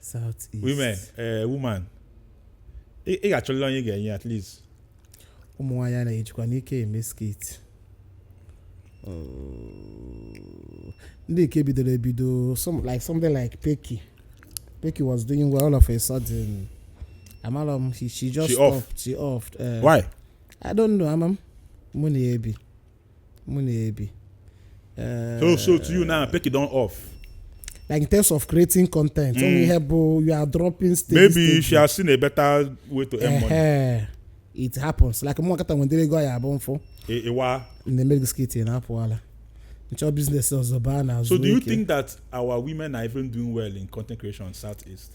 South East. women eh, woman ị ị ga-achọlịla onye ị ga-enye at least ụmụ nwaanyị a na-ejikwa n'ike eme skit ndị nke bidoro ebido some, like something like Peki Peki was doing well all of a sudden amara m she, she just She off. stopped she off uh, why I don't know ama m mụ na ya ebi mụ na-ebi Eh, so so to you now peki don off like in terms of creating content mm. only help you are dropping steady, maybe steady. she has seen a better way to earn uh -huh. money it happens like mụ akata nwendere ego ya abụ mfụ ịwa e, e na-eme gị skit na-apụ ala m chọọ business ọzọ baa na so do you think that our women are even doing well in content creation southeast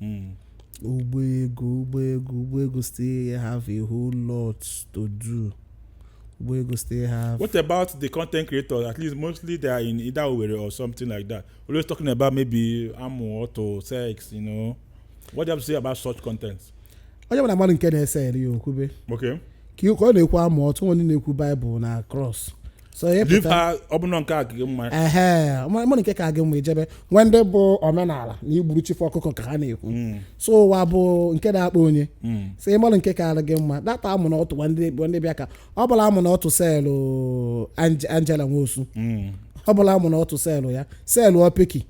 Mm. Igbo girls, Igbo girls, Igbo girls still have a whole lot to do. Igbo girls still have. What about the content creators? At least mostly they are in either Owerri or something like that. Always talking about maybe amụ, ọtụ, sex, you know. What do you have to say about such content? Onye ọbụla malụ nke na-ese eri ya o kwube Okay. ka ọ na-ekwu amụ ọtụ onye na-ekwu Bible na cross so ị Leave pụta her, ọ bụrụ na nke a ka gị mma ehe ị malụ nke ka gị mma i jebe nwee ndị bụ omenala na igburu chifu ọkụkọ ka ha na-ekwu so ụwa bụ nke na-akpa onye so ị malụ nke ka gị mma data amụ na ọtụ gwa ndị gwa ndị bịa ka ọ bụla amụ na ọtụ selụ Ange- Angela Nwosu ọ bụla amụ na ọtụ selụ ya selụ ọpeki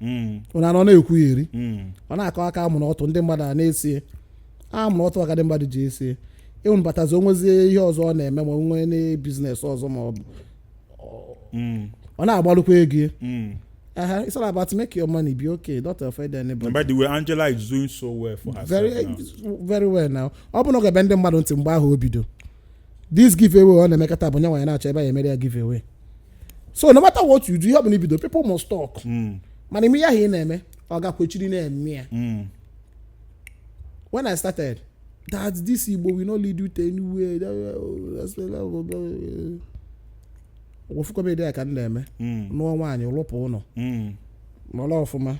Mm, ụnụ anọ na-ekwu ya eri mm, ọ na-akọ aka amụ na ọtụ ndị mmadụ a na-esi amụ na ọtụ aka ndị mmadụ ji esi ịnwụbatazi o nwezie ihe ọzọ ọ na-eme ma o nwee business ọzọ ma ọ bụ mm, ọ na-agbalụkwa ego ya. mm. Aha, it's all about make your money be okay don't offend And anybody by the way, Angela is doing so well for herself very now. very well now ọ bụ na o gebe ndị mmadụ ntị mgbe ahụ o bido this giveaway ọ na-emekọta bụ nyanwa ya na-achọ ebe ya emere ya giveaway so no matter what you do ihe ọbụla i bido people must talk hmm. mana ime ihe ahụ ị na-eme ọ ga-ekwechiri na-eme ya hmm. when I started that this Igbo will not lead you to anywhere wefu comedy ya ka m na-eme hmm. nụọ nwaanyị rụpụ ụlọ mara ọfụma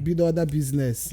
bido other business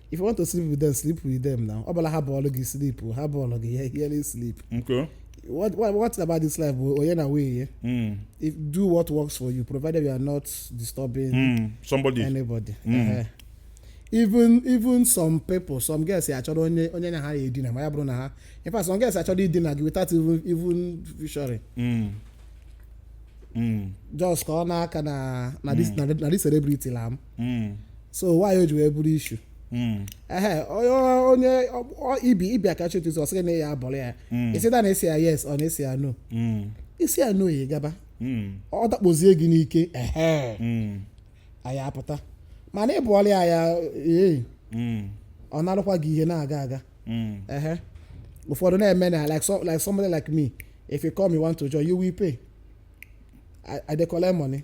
if you want to sleep with them sleep with them now ọ bụla ha bọọlụ gị sleep ha bọọlụ gị ya hiere sleep Okay. what what what about this life bụ onye na way ya Mm. if do what works for you provided you are not disturbing Mm. Somebody. anybody Ehe. even even some people some girls ya achọrọ onye onye na ha ya edina ma ya bụrụ na ha in fact some girls achọrọ idina gị without even even featuring Mm. Mm. just ka ọ na-akọ na na this na na this celebrity la m Mm, so why o ji wee bụrụ issue mm, ehe onye onye ọ- ọ- ibi ị bịa ka chụtụ ọ sị gị na ya abụrụ ya is either na a sị ya yes or na a sị ya no mm, ị sị ya no ya gaba mm, ọ dakpozie gị n'ike ehe mm, anyị apụta mana ị bụọla ya ya ee mm, ọ narụkwa gị ihe na-aga aga mm. ehe ụfọdụ na-eme na like, so, like somebody like me if you come you want to join you will pay I, I dey collect money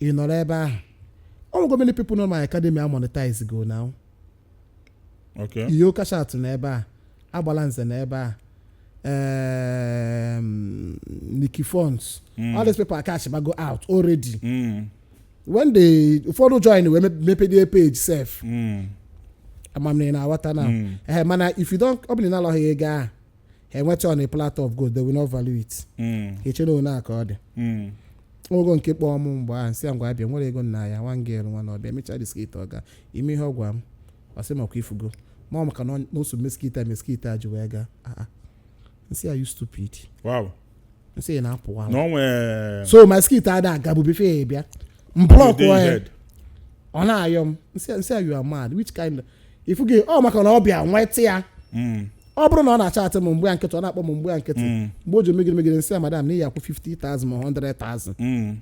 ị nọrọ ebe ahụ o nwego many people nọ my academy a monetize go now Okay. ihe ụka shat nọ ebe a Agbalanze nọ ebe a um, Nikki Fonts Mm. all these people acashbago out already Mm. when ndị ụfọdụ join wee mep- mepedie page sef Mm. ama m na ị na-aghọta now Mm. ee mana if you don ọ bụrụ na ị nalaghị ego ahụ ha enweta on a platter of gold they will not value it Mm, ha eche na ọ nya ka ọ dị mm. o nwego nke kpọọ m mgbe ahụ nsị ya ngwa bịa m werego na ya nwa girl nwa na ọ bịa mechaa the skit ọ gaa ị ma ihe ọ gwa m ọ sị makwa ifugo ma ọ maka na ọ- na o so mee skit a mee skit a ji wee gaa Ah, ah. nsị ya are you stupid Wow. nsị ya na-apụwa no way so my skit ada agabu before ị abịa m block ya ọ na-ayọ m nsị nsị ya you are mad which kind of ifu gị ọ maka na ọ bịa nweta ya ọ bụrụ na ọ na-achatị m m gba ya nkịtị ọ na-akpọ m m gba ya nkịtị mgbe o ji megide megide nsị ya madam na ị ya-akwụ 50,000 ma 100,000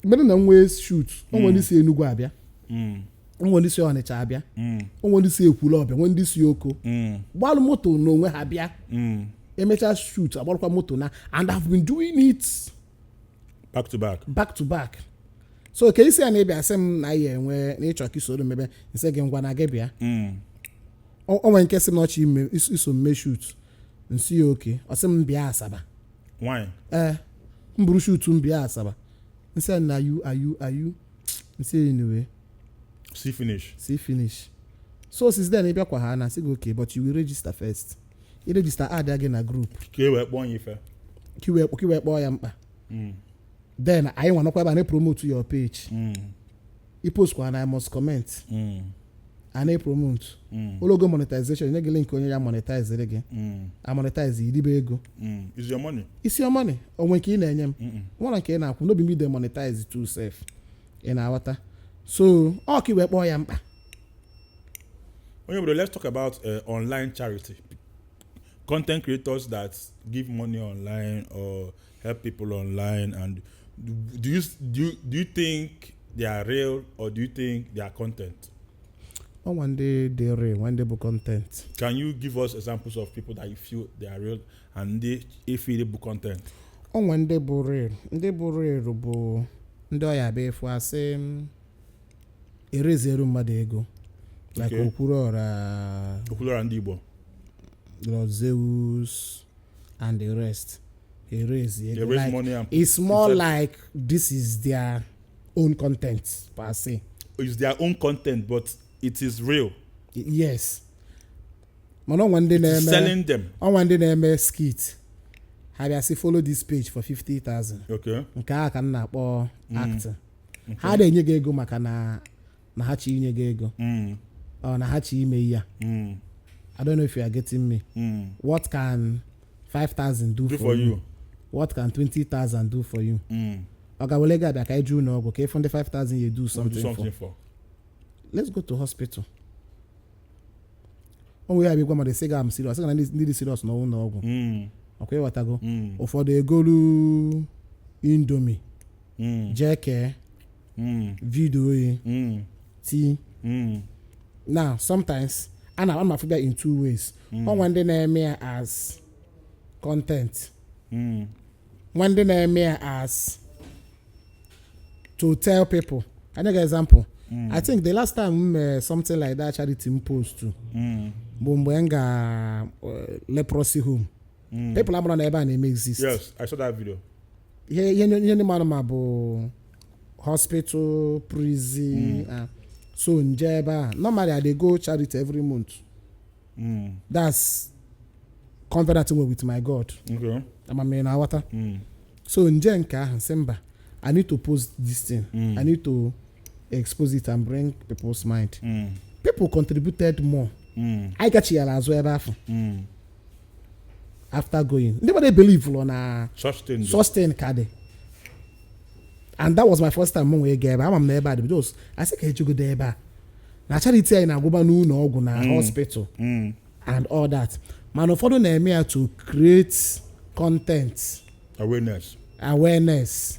mere na nwee shoot o nwere ndị si Enugu abịa Mm. o nwere ndị si Ọnịcha abịa Mm. o nwere ndị si Ekwulọbịa nwee ndị si Oko Mm. gbalụ moto n'onwe ha bịa Mm. e mechaa shoot agbarụkwa moto naa and I've been doing it back to back back to back so ka isi a na-ebịa sị m na ya enwe na ị chọ ka i soro mebe nsị gị ngwa na gị bịa Mm. o o nwere nke sị m na ọ chọ ime- is- iso mee shoot nsị ya okay ọ sị m bịa Asaba why ee m buru shoot m bịa Asaba nsị ya na are you are you are you nsị ya anyway see finish see finish so since then ị bịakwa a na-asị gị okay but you will register first i register add gị na group ka i wee kpọọ ya ife ka i wee ka i wee kpọọ ya mkpa Mm, then anyị nwa nọkwa ebe a na-epromote your page mm. i postkwa now I must comment mm. a na-epromote mm. o lugo monetization e nye gị link onye ya monetize gị mm. a monetize i ribe ego mm. is your money is your money o nwe nke ị na-enye m nwere nke ị na-akwụ no be me dey monetize too sef ị na-aghọta so ọ ka i wee kpọọ ya mkpa Onye Obodo let's talk about uh, online charity content creators that give money online or help people online and do you do you, do you think they are real or do you think they are content o nwee ndị dị real nwee ndị bụ content can you give us examples of people that you feel they are real and ndị ị feel bụ content o nwee ndị bụ real ndị bụ real bụ ndị ọ ya-abụ efu asị m, e raisiere mmadụ ego like Okay. okwuluọra okwuluọra ndị igbo lord zeus and the rest e raise They ego raise like, money and put it's more inside- like this is their own content per se is their own content but it is real Y- yes mana o nwee ndị it is na-eme selling them o nwee ndị na-eme skit ha bịa sị follow this page for 50000 okay nke a ka m na-akpọ acting ha ada enye gị ego maka na na ha chọ inye gị ego Mm, ọ na ha chọ ime ihe a mm, i don't know if you are getting me mm. what can 5000 do, do for you what can 20000 do for you Mm, ọ ga wele gị abịa ka anyị jee ụlọ ọgwụ ka ị fụ ndị 5000 ya do do something for something for let's go to hospital o nwere ya bụ ị gwa mmadụ sị gị am serious sị gị na ndị ndị dị serious nọ ụlọ ọgwụ Mm, ọ kwa ị ghọtago mm. ụfọdụ egolu indomie mm. jee kee mm. video ya mm. ti mm. now sometimes ana m afụba ya in two ways mm. o nwee ndị na-eme ya as content mm. nwee ndị na-eme ya as to tell people ka m nye gị example mm. i think the last time m mere something like that charity m postụ mm. bụ mgbe m ga uh, leprosy home people amarọ na ebe a na-eme exist yes i saw that video ihe ihe ihe ndị mmadụ ma bụ hospital prison ah. so m je ebe a normally i dey go charity every month mm. that's covenant m nwee with my god okay ama m ị na-aghọta mm. so m je nke ahụ sị mba i need to post this thing i need to expose it and bring people's mind mm. people contributed more mm. anyị gachighara azụ ebe afụ mm. after going ndị mmadụ ebelievelọ na Such thing. such thing ka dị and that was my first time m wee gaa ebe a. ama m na ebe a dị because a sị ka e jegodu ebe a na charity anyị na-agwụba n'ụlọ ọgwụ na hospital and all that mana ụfọdụ na-eme ya to create content Awareness. awareness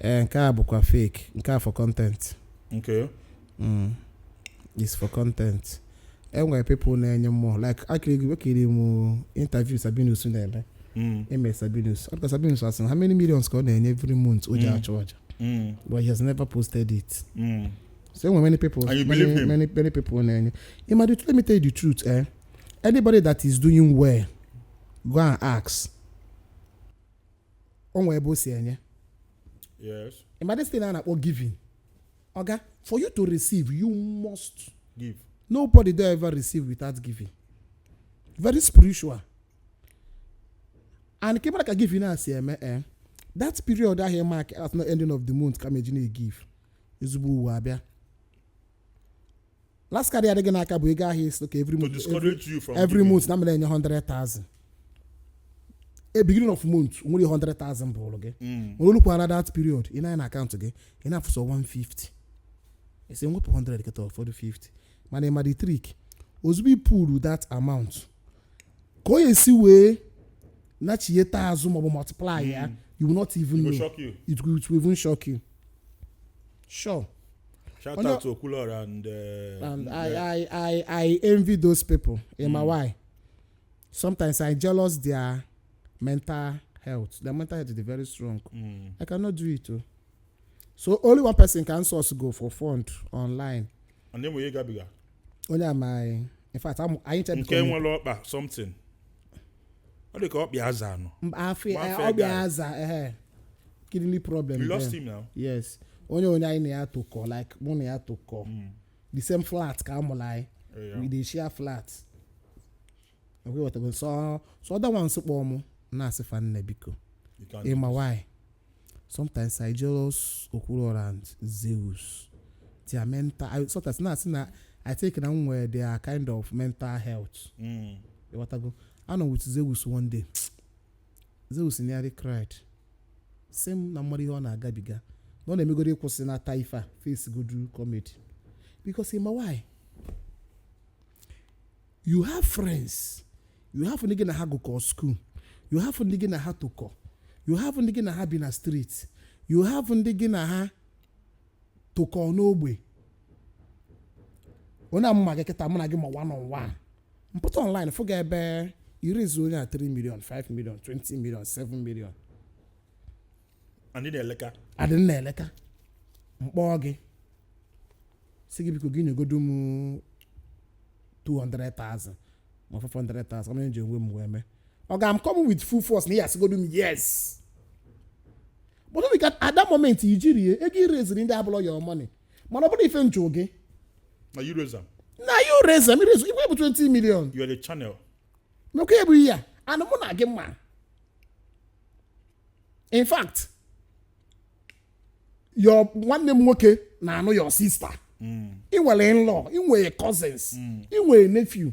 ee nke a bụkwa fake nke a for content Okay. mm. is for content enwere people na-enye mmụọ like ekiri m interview sabinus na-eme Mm. sabinus ọdịka sabinus asị na how many millions ka ọ na-enye every month o ji Mm. achụ aja Mm. but he has never posted it Mm. so enwere many people And you many, believe him? many, many people na-enye ị ma the let me tell you the truth eh? anybody that is doing well go and ask o nwe ebe o si enye Yes. ị ma this thing a na-akpọ giving oga for you to receive you must Give. nobody don ever receive without giving very spiritual and ka ị mara ka giving a si eme eh, that period ahụ ị mark at the ending of the month ka m eji na-egive ezigbo ụwa abịa last card ya-adị gị n'aka bụ ego ahụ ị sị ka every to month discourage you from every giving. month na m na-enye 100,000 e beginning of month o nwere 100,000 bụrụ gị mana o lukwala that period ị nee anya na account gị ị na-afụ sọ 150 ị sị wepụ 100 kịta ọ fọdụ 50 mana ị ma the trick ozugbo ị pụrụ that amount ka o esi wee nachiyeta azụ maọbụ multiply ya you will not even Go know shock you. it will, it will even shock you sure Shout Onye- out to Okulora and uh, and I, I i i envy those people in my why sometimes i jealous their mental health their mental health is very strong mm, i cannot do it o so only one person can source go for fund online ọ na-enwe ihe gabiga onye amaghị in fact amụ- anyị nke chebikọ nwere ọkpa something ọ dị ka ọkpa ya aza anọ afọ Nwa afọ ọ bịa ego. aza ehe kidney problem we lost there. him now yes onye onye anyị na ya tokọ like mụ na ya tokọ the same flat ka a mụrụ anyị Yeah. we dey share flat Okay ị ghọtago so so other ones kpọọ mụ na-asị fa nne biko You can't ị ma do why sometimes i jealous okwuluora and zeus their mental I, sometimes na-asị na i think na m nwere their kind of mental health this. Mm. ịghọtago anọ with zeus one day zeus nearly cried sị m na m marọ ihe ọ na-agabiga na ọ na-emegodu ịkwụsịnata ife a face godu comedy because ị ma why you have friends you have ndị gị na ha gụkọ school you have ndị gị na ha tokọ you have ndị gị na ha bi na street you have ndị gị na ha tokọ n'ogbe ọ na mụ ma gị kịta mụ na gị ma one on one m pụta online fụ gị ebe ị raise onye a 3 million 5 million 20 million 7 million Anyị na-eleka. adị m na-eleta m kpọọ gị sị gị biko gị nyegodu m 200,000 or 500,000 ka m ji enwe m wee mee oga m come with full force na ị ya-asịgodu m yes but ọ dị ka at that moment i jirọ ya ego ị raisere ndị a abụrọ your money mana ọ bụrọ ife m jụ gị Na you raise am. na you raise am ị raisego ya bụ 20 million You are the channel. mekwa ya bụ ihe a na mụ na gị ma in fact your nwanne m nwoke na-anụ your sister ị nwere in-law ị nwere cousins ị nwere nephew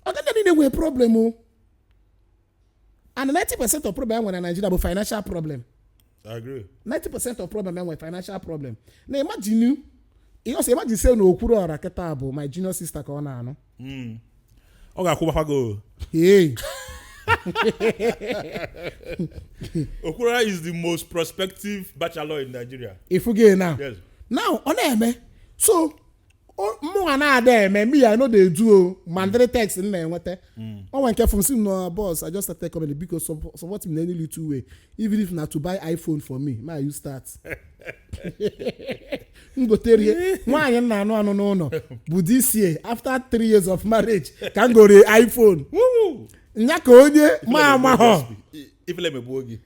ọkwa ndị a niile nwere problem o and 90 percent of problem e nwere na Nigeria bụ financial problem I agree. 90% of problem enwe financial problem na imagine ihe ọsọ imagine say na Okwuluọra kịta bụ my junior sister ka ọ na-anụ Mm. ọ ga-akwụbakwa gị o. hey Okwuluọra is the most prospective bachelor in Nigeria. ị fụgo now Yes. now ọ na-eme so O- mụnwa na-ada eme me i no dey do o ma ụdịrị text m na-enweta o nwe nke fụ m sị m na boss i just started comedy biko sup- support me na any little way even if na to buy iphone for me make I use start m goterie nwaanyị m na-anụ anụ n'ụlọ bụ this year after three years of marriage ka m gore iphone Woo! nya ka onye ma amahọ ifele emegbuo gị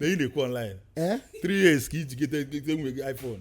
na ị na-ekwu online Eh? three years ka i ji gote gote nwunye gị iphone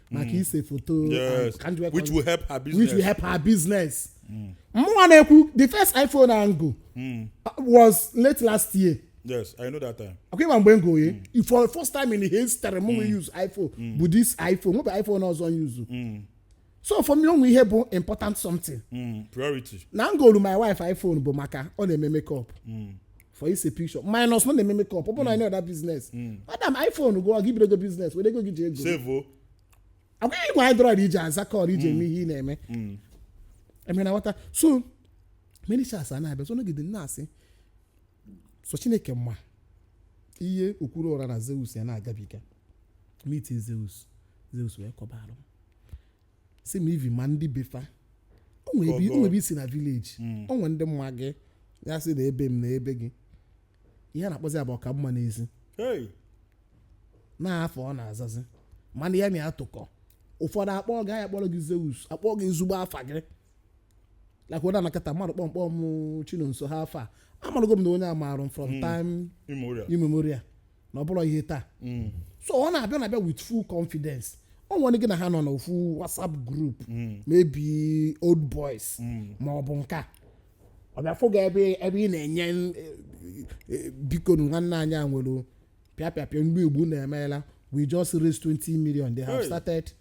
maka ise foto yes ka njikwa which will help her which will business help her business. Mụnwa na-ekwu the first iPhone ahụ m go was late last year. yes i know that time Ọkwa ị ma mgbe m go ya for the first time in history m wee use iPhone bụ this iPhone nwebe iPhone ọzọ m use. So for me o nwe ihe bụ important something. mm, priority na m golu my wife iphone bụ maka ọ na-eme makeup for ise picture minus na ọ na-eme makeup ọ bụ na any other business madam iphone gụọ gị bido your business were ego gị ji ego sevo agwaghị ịgwa android iji aza call iji eme ihe ị na-eme emere na nwata so many chance a na-abịa so nọgide na-asị so chineke ma ihe Okwuluọra na zeus ya na-agabiga meet zeus zeus wee kọbarụ sị m even ma ndị be fa o nwere ebe- o nwere ebe i si na village o nwere ndị ma gị ya sị na ebe m na ebe gị ihe a na-akpọzi ya bụ ọka mma n'ezi Hey, n'afa ọ na-azazi mana ya na-atụkọ ụfọdụ akpọ gị a ya-akpọrọ gị zeus akpọ gị ezigbo afa gị like onye anọkata mmadụ kpọ m kpọ m chinonso ha afa a amarụgo m na onye a marụ m from time Immemorial. immemorial na ọ bụrọ ihe taa so ọ na-abịa na-abịa with full confidence o nwere ndị gị na ha nọ n'ofu whatsapp group maybe old boys ma ọ bụ nke a ọ bịa fụ gị ebe ebe ị na-enye n- e- e- biko nu nwanne anyị a nwụrụ pịa pịa pịa mgbe igbu na-emeela we just raise 20 million they have Hey. started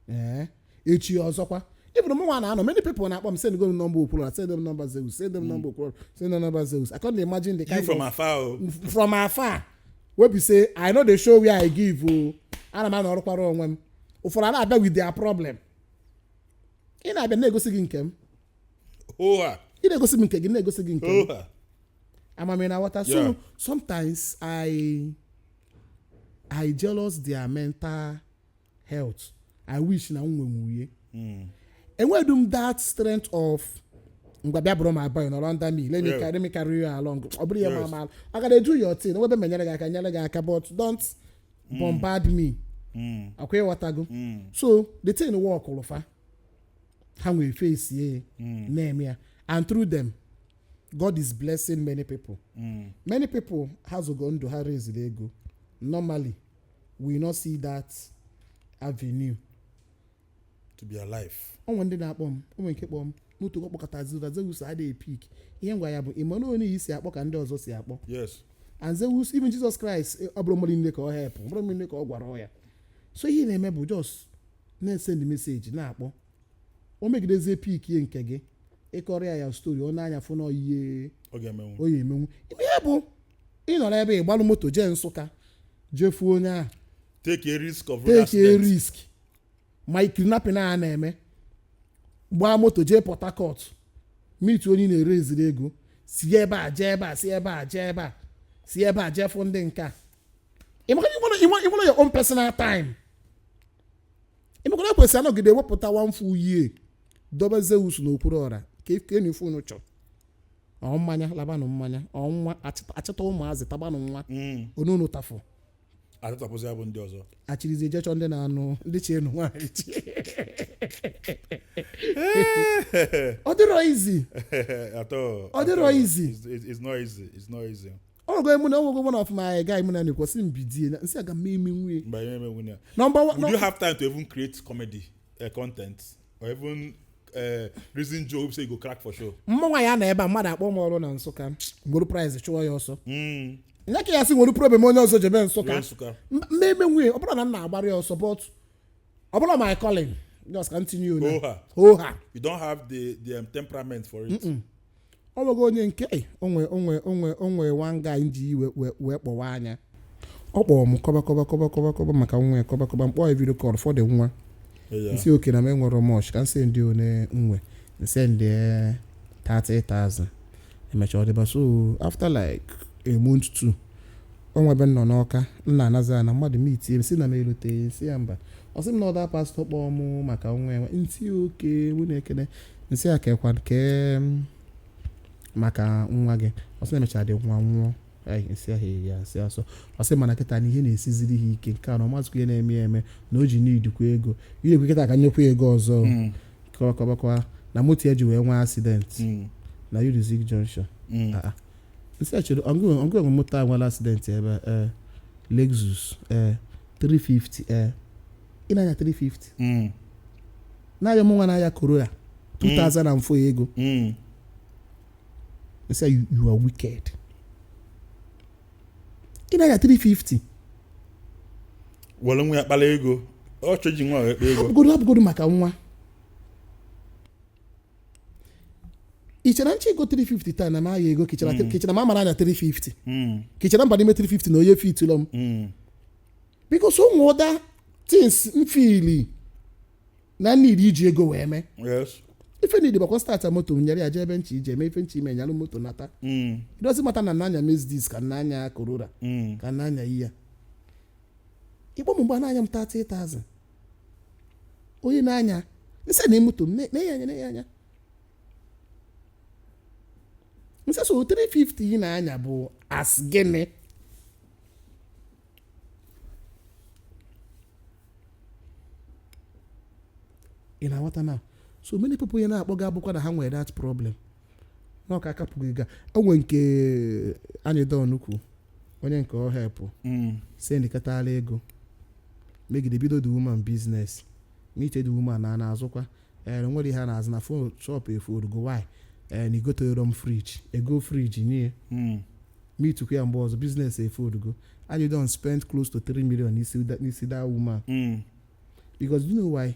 Eh, echi ọzọkwa even mụnwa na-anọ many people na-akpọ m send go m nọmba okwuru send m nọmba zeus send m nọmba okwuru send m nọmba zeus i can't imagine the you kind from of afar o from afar wey be say i no dey show where i give o ana m anọrọkwara onwe m ụfọdụ a na-abịa with their problem ị na-abịa na-egosi gị nke m oha ị na-egosi m nke gị na-egosi gị nke m oha ama m na ị ghọta Yeah. so sometimes i i jealous their mental health i wish na m nwenwuye enwedu m that strength of ngwa bịa bụrụ my boy nọrọ under me let me Yes. carry me carry you along ọ bụrụ ya ma Yes. ama I gotta do your thing nwee ebe m nyere gị aka nyere gị aka but don't bombard me akwa ịghọtago so the thing workụlụ fa ha wee face ya na-eme ya and through them God is blessing many people many people ha azọgo ndụ ha raised ego normally will not see that avenue to be alive o nwe ndị na-akpọ m o nwe nke kpọọ m n'otu ụkọ kpọkatazịa zeus adịghị pick ihe m gwa ya bụ ị ma na onye i si akpọ ka ndị ọzọ si akpọ yes and zeus even jesus christ eh, ọ bụrọ mmadụ niile ka ọ helpụ ọ bụrọ mmadụ niile ka ọ gwọrọ ọya so ihe ị na-eme bụ just na-esend message na-akpọ o megidezie pickie nke gị ị kọrọ ya ya story ọ nee anya fụ na ọ ihe ọ ga-emenwu ọ ya emenwu ị ma ihe bụ ịnọ n'ebe ị gbalụ moto jee nsụka jee fụọ onye ahụ take a risk of road take a accident risk ma kidnapping a na-eme gbaa moto jee port harcourt meet onye ị na-eraisiri ego si ebe a jee ebe a si ebe a jee ebe a si ebe a jee fụ ndị nke a ị mara ị nwerọ your own personal time ị makwa na e kwesị anọgide ewepụta one full year dobe zeus na okwuruọra kenụ ife unu chọrọ ọ mmanya labanụ mmanya ọ nwa achịta- achịta ụmụazị tabanụ nwa onu unu tafụ atụtapụzi ya bụ ndị ọzọ achịrịzi ejechọ ndị na-anụ ndị chi enu nwaanyị chi ọ dịrọ easy at all Ọ dịrọ at all. easy. It's- it's it's not easy it's not easy ọgụ emụ na ọgụgụ mụ na ọfụma anyị gaa emụ na na-ekwu sị m bidie na- m sị aga m emenwu ya Mgbe anyị emenwu ya. nọmba wa- Would you have time to even create comedy uh, content or even uh, reason joke say you go crack for show? mụnwa ya-anọ ebe a mmadụ akpọ m ọrụ na nsụka m were price chụọ ya ọsọ Mm. nye ka ya sị m were problem onye ọzọ jebe nsụka Ruo Nsụka. M- mma emenwu ya ọ bụrọ na m na-agbara ya ọsọ but ọ bụrọ my calling just ka m tinye ya Hoha. hoha You don't have the the um, temperament for it. o nwego onye nke "Ei, o nwe o nwe o nwe o nwe one guy m ji wee- wee kpọwa anya ọ kpọrọ m kọba kọba kọba kọba kọba maka nwa ya kọba kọba m kpọọ ya video call for the nwa Eya. m sị okay na m enwerọ much ka m sendi one m nwe m sendi 30,000 emecha ọ dịba so after like a month two o nwe ebe m nọ n'Ọka m na-anazi ana mmadụ meetie m sị na m eloteghị m sị ya mba ọ sị m na ọ that pastor kpọọ mụ maka nwa enwe m sị okay nwunye ekene m sị ya kekwa nke maka nwa gị ọ sị na e mechara the nwa nwụọ Ai, m sị ah eya m sị ọsọ ọ sị mana kịta na ihe na-esiziri ha ike nke a na ọ mazikwa ihe na-eme ya eme na o ji needikwa ego ihe ekwe kịta ka m nyekwa ya ego ọzọ Mm, kọba kọbakwa na moto ya ji wee nwee accident mm, na Unizik Junction mm. Ah, ah. m sị ah chere ọ ngị nwe moto a nwere accident ebe a, ee Lexus ee 350 ee ị na-anya 350 mm. na-anya mụnwa na-anya Corolla 2000 and 4 ego mm. they say you, you are wicked ị na-anya 350 were nwa ya kpara ego ọ chọ iji nwa wee kpa ego hapụgodu hapụgodu maka nwa i chere m chọ igo 350 taa na m aya ego ka i chere ka i chere m amara anya 350 mm. ka i chere m baa n'ime 350 na ọ ya-efitulọ m because o nwere other things m feeli na m need iji ego wee mee yes ife m need bụkwa start moto m nyara ya jee ebe m chọ ije mee ife m chọ ime nyalụ moto nata mm. it doesn't matter na m na-anya Mercedes ka m na-anya Corolla mm. ka m na-anya iya ị kpọ m mgbe na-ayọ m 30,000 ọ ya m na-anya m sị nee moto m na-anya anya na-anya anya m sị so 350 ị na-anya bụ as gịnị ị na-aghọta na so many people ya na-akpọ gị abụkwa na ha nwere that problem na ọka akapụghị ga o nwe nke anyị don kwu onye nke o helpu Mm. sendikatara ego megide bido the woman business meet the woman na na-azụkwa ee nwere ihe a na-azụ na phone shop efoldugo why ee na i goterọ m fridge egoo fridge nye Mm. meetikwa ya mgbe ọzọ business efoldugo and you don spend close to 3 million n'isi da- n'isi that woman Mm. because you know why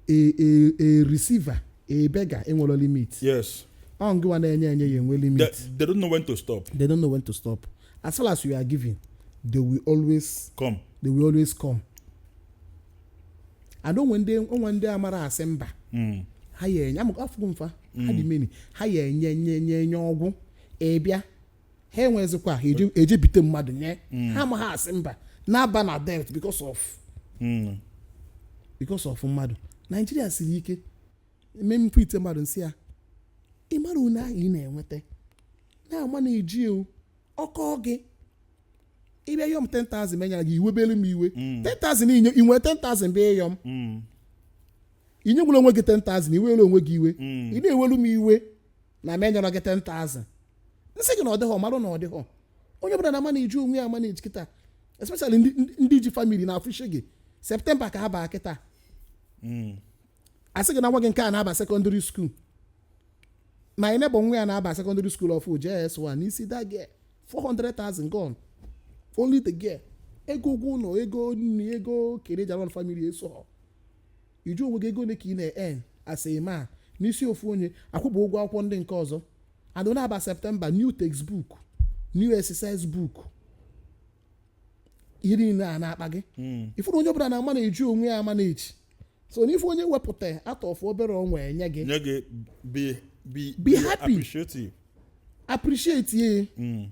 a a a receiver a beggar enwerọ limit yes ọ ngịwa na-enye enye ya-enwe limit they don't know when to stop they don't know when to stop as far as you are giving they will always come they will always come and o nwe ndị o nwe ndị amara asị mba Mm. ha ya enye amụkọ afụgo mfa ha dị many ha ya enye nye nye nye ọ gwụ ị bịa ha enwezikwa ha eje- eje ebite mmadụ nye ha amaghị asị mba na-aba na debt because of Mm. because of mmadụ nigeria siri ike eme mfe ite mmadụ m sị ya ị mara one ahụ ị na-enweta na-amanaji ewu ọkọ gị ị bịa yọ m 10,000 m enyara gị i webere m iwe 10,000 i nye i nwe 10,000 bịa ịyọ m Mm. inye gwere onwe gị 10,000 i were onwe gị iwe ị na-ewelu m iwe na m enyara gị 10,000 m sị gị na ọ dịghọ marụ na ọ dịghọ onye ọbụla na-amanaji onwe ya amanaji kịta especially ndị- ndị- ndị ji family na afụshi gị september ka ha baa kịta Mm. asị gị na nwa gị nke a na-aba secondary school my neighbour nwa ya na-aba secondary school ọfụụ js1 n'isi that girl 400,000 gone only the girl ego ụgwọ ụlọ ego nri ego ke general family eso ị jụọ onwe gị ego ole ka ị na-earn as a man n'isi ofu onye akwụba ụgwọ akwụkwọ ndị nke ọzọ adọ na-aba septemba new textbook new exercise book ihe niile a na-akpa gị hmm. ị fụrụ onye ọbụla na-amanaji onwe ya amanaji so na ife onye wepụta out of obere o nwe nye gị nye gị be be be happy appreciative appreciate ye hmm.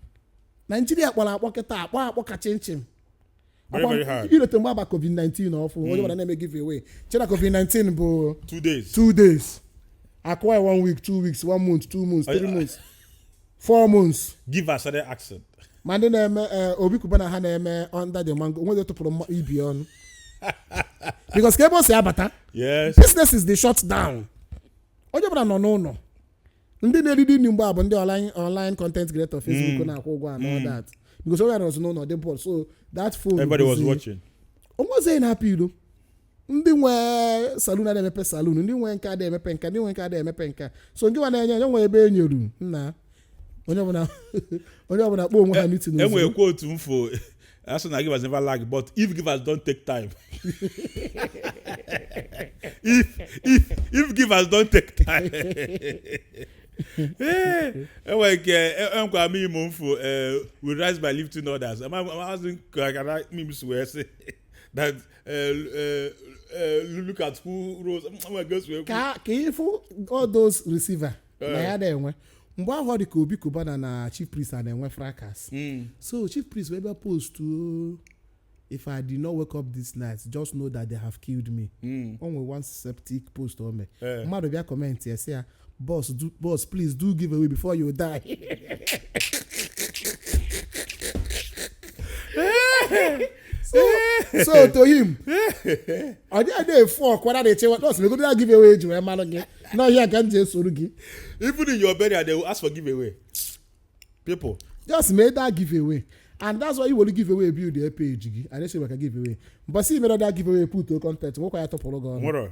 nigeria kpọrọ akpọ kịta akpọ akpọ ka chinchin i rote mgbe a ba covid-19 ọfụụ onye hmm. ọbụla na-eme giveaway chee na covid-19 bụ two days two days akụwa one week two weeks one month two months three months four months give her certain accent ma ndị na-eme eh, obi cubana ha na-eme under the mango onwezi tụpụrụ mma ibe ọnụ because ka ebe o si abata yes businesses dey shut down onye ọbụla nọ n'ụlọ ndị na-eriri nri mgbe ahụ bụ ndị online online content creator facebook na-akwụ ụgwọ and all that because onye nọzi n'ụlọ dị bored so that phone everybody was busy watching onwezi na-apụ ilo ndị nwe salon adị emepe salon ndị nwe nka adị emepe nka ndị nwe nka adị emepe nka so nke nwa na-enye enye nwe ebe e nyeru nna onye ọbụla onye ọbụla kpọọ onwe ha meeting e nwe quote m fụ a sị na givers never lack but if givers don't take time if if if givers don't take time e nwere nke e nwekwa meme m fụ we rise by lifting others amazị ka meme si wee sị that look at who rose nwa gosi ekwu ka ka ị fụ all those receiver na Eh. ya na-enwe mgbe ahụ ọ dị ka obi cubana na chief priest a na-enwe fracas so chief priest wee bịa post o, if i did not wake up this night just know that they have killed me o nwere one septic post o mee Eh. mmadụ bịa comment ya sị ya Boss, do, boss, please do give away before you die. so, so to him, ọ dịghị na-efu ọkwa na na-echewa nọọsụ megodu ya give away ji wee mara gị na ọ ya ka m ji esoro gị even in your burial they will ask for giveaway people just mee that give away and that's why ị were give away build your page gị and esi maka give away but see mere that give away put out content nwekwa ya opportunity ị nwere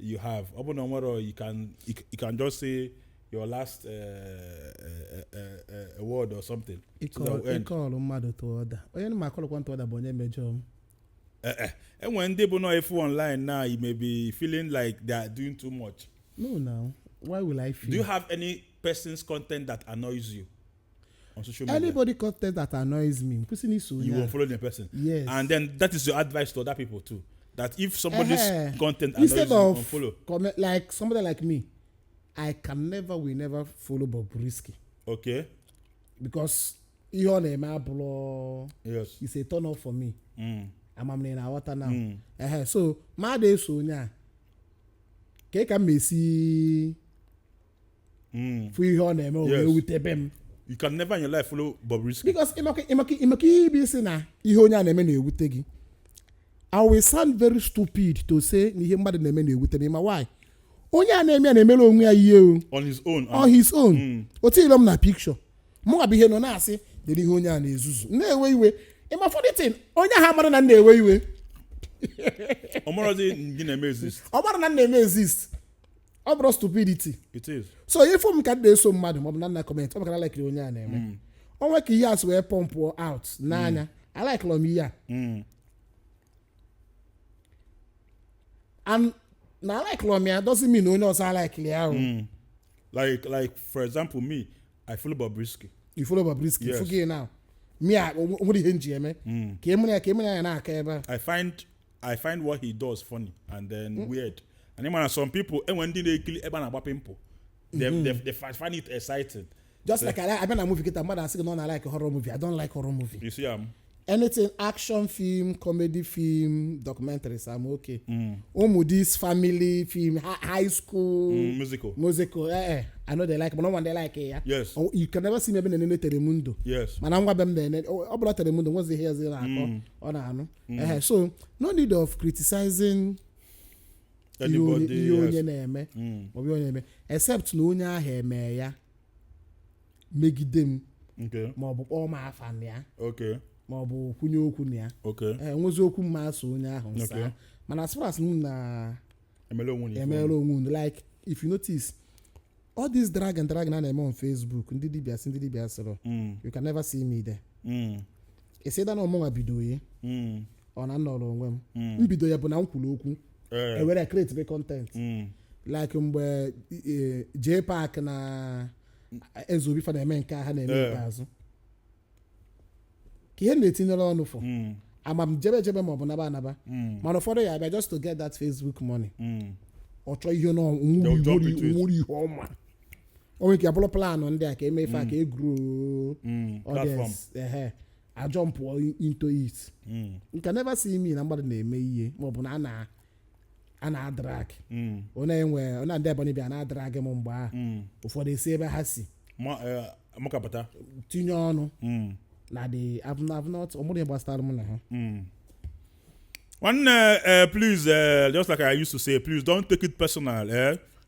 you have ọ bụ na nwere you can you c- you can just say your last uh, uh, uh, uh, word or something so that we end. ị call mmadụ to order onye m a call kwa to order bụ onye mejọọ m Eh, eh. enwere ndị bụ nọ efu online now you may be feeling like they are doing too much no now why will i feel do you have any person's content that annoys you on social media. anybody content that annoys me kwụsị na iso you onye won't a. follow the person. Yes. And then that is your advice to other people too. That if somebody's Ehe. content annoys instead you, of unfollow. comment like somebody like me i can never will never follow Bobrisky Okay. because ihe ọ na-eme abụrọ Yes. is a turn off for me Mm. ama m na ị na-aghọta now Mm. ehe so mụ adị eso onye a kee ka m esi fụ ihe ọ na-eme o wee Yes. wutebe m you can never in your life follow Bobrisky because ị ma ka ị bịa sị na ihe onye a na-eme na-ewute gị i will sound very stupid to say na ihe mmadụ na-eme na-ewute m ma why onye a na-eme ya na-emere onwe ya ihe o on his own on his own o tiirọ m na picture mụ abịa nọ na-asị dịrị ihe onye a na-ezuzu na-ewe iwe ị ma funny thing onye ahụ amarọ na m na-ewe iwe ọ marọzi na ị na-eme exist ọ marọ na m na-eme exist ọ bụrụ stupidity it is so ị fụ m ka m na-eso mmadụ maọbụ na m na comment ọ maka na alaikiri onye a na-eme o nwe ka ihe a si wee pump out n'anya alaikiri m ihe a Mm. And na alaikiri m ya doesn't mean na onye ọzọ alaikiri ya o Mm. like like for example me i follow bobrisky ị follow Bobrisky Yes. forget now mụwa o nwere ihe m ji eme Mm. ka emere ya ka emere ya na-aka ebe a i find i find what he does funny and then mm. weird and ị ma na some people enwere ndị na-ekiri ebe a na-agba pimple they, mm. they, they find it exciting just like ị, ị bịa na movie kịta mmadụ asị gị na ọ na like horror movie i don't like horror movie you see am um, anything action film comedy film documentaries i'm okay mm. ụmụ this family film high school mm, musical musical eh, eh, i no dey like mana nwa dey like ya yes oh, you can never see me ebe m na-enene telemundo yes mana nwa be m na-ene ọ bụla telemundo nwezighị ezi na-akọ ọ na-anụ Ehe, so no need of criticizing ihe onye- Anybody ihe onye else. na-eme Mm, maọbụ ihe onye na-eme except na onye ahụ eme ya megide m okay, maọbụ kpọọ m afa na ya okay, maọbụ kwunye okwu na ya okay. ee nwezi okwu mma asụ onye ahụ nsa Okay. mana as far as m na emela onwe na emeela onwe unu like if you notice all this drag and drag a na-eme on facebook ndị dibia sị ndị dibia asịrọ Mm, you can never see me there mm, except na ọ mụnwa bido ya Mm. ọ na m nọrọ onwe m mbido ya bụ na m kwuru okwu Eh. e were create the content Mm. like mgbe eh, J Park na Ezeobi fa na-eme nke a ha na-eme Eh. ikpeazụ ka ihe m na-etinyere ọnụ fọ Mm. ama m jebe ejebe maọbụ naba anaba Mm. mana ụfọdụ ya-abịa just to get that facebook money Mm. ọ chọọ ihe na They'll jump into it. nwere ihe ọma o nwere ike ya bụrụ planụ ndị a ka e me ife a ka e grow Mm, platform. audience ehe a jumpụọ into it Mm, you can never see me na mmadụ na-eme ihe maọbụ na a na a na-adrag mm, onye e nwee onye ndị Ebonyi bịa na-adrag m mgbe ahụ mm. ụfọdụ esi ebe ha si Ma- eh, amakapụta tinye ọnụ Mm, na they have not ọmụrụ ihe gbasara m na ha mm. nwanne eh, please eh, just like i used to say please don't take it personal eh?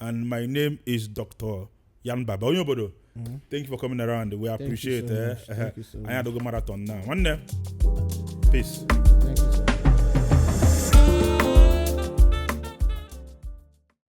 and my name is Dr. Yan Baba onye obodo mm-hmm. thank you for coming around we appreciate eh, eh, anyị adogo marathon na nwanne peace